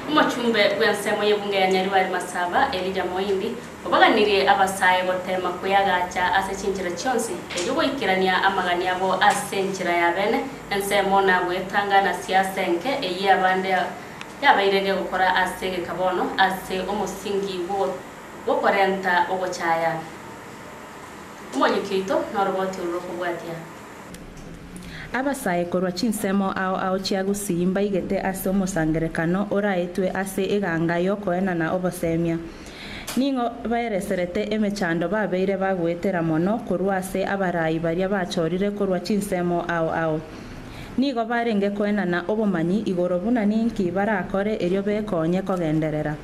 Omochumbe bw'ensemo y'ebunge ya Nyaribari Masaba, Elijah Moindi, obaganirie abasae goteema kweyagacha ase chinchera chionsi, erio goikerania amagani abo ase enchera ya bene, ensemo na goetanga na siasa enke eyio abande yabaire gegokora ase egeka bono ase omosingi bw'okorenta ogochaya. Omoyuki oito noroboti oro rokobwatia. Abasae korwa chinsemo ao ao chia gusii mbaigete ase omosangerekano oraetwe ase eganga y'okoena na obosemia. Ning'o baereserete emechando babeire bagoetera mono korwa ase abarai baria bachorire korwa chinsemo ao ao! Nigo barenge koenana obomanyi igoro buna ninki barakore erio bekonye kogenderera.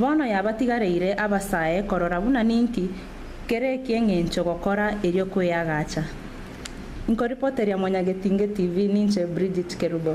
Bono yabatigareire abasae korora buna ninki kere eki'engencho gokora erio kweagacha. Nkoripoteria Mwanyagetinge TV ninche Bridget Kerubo.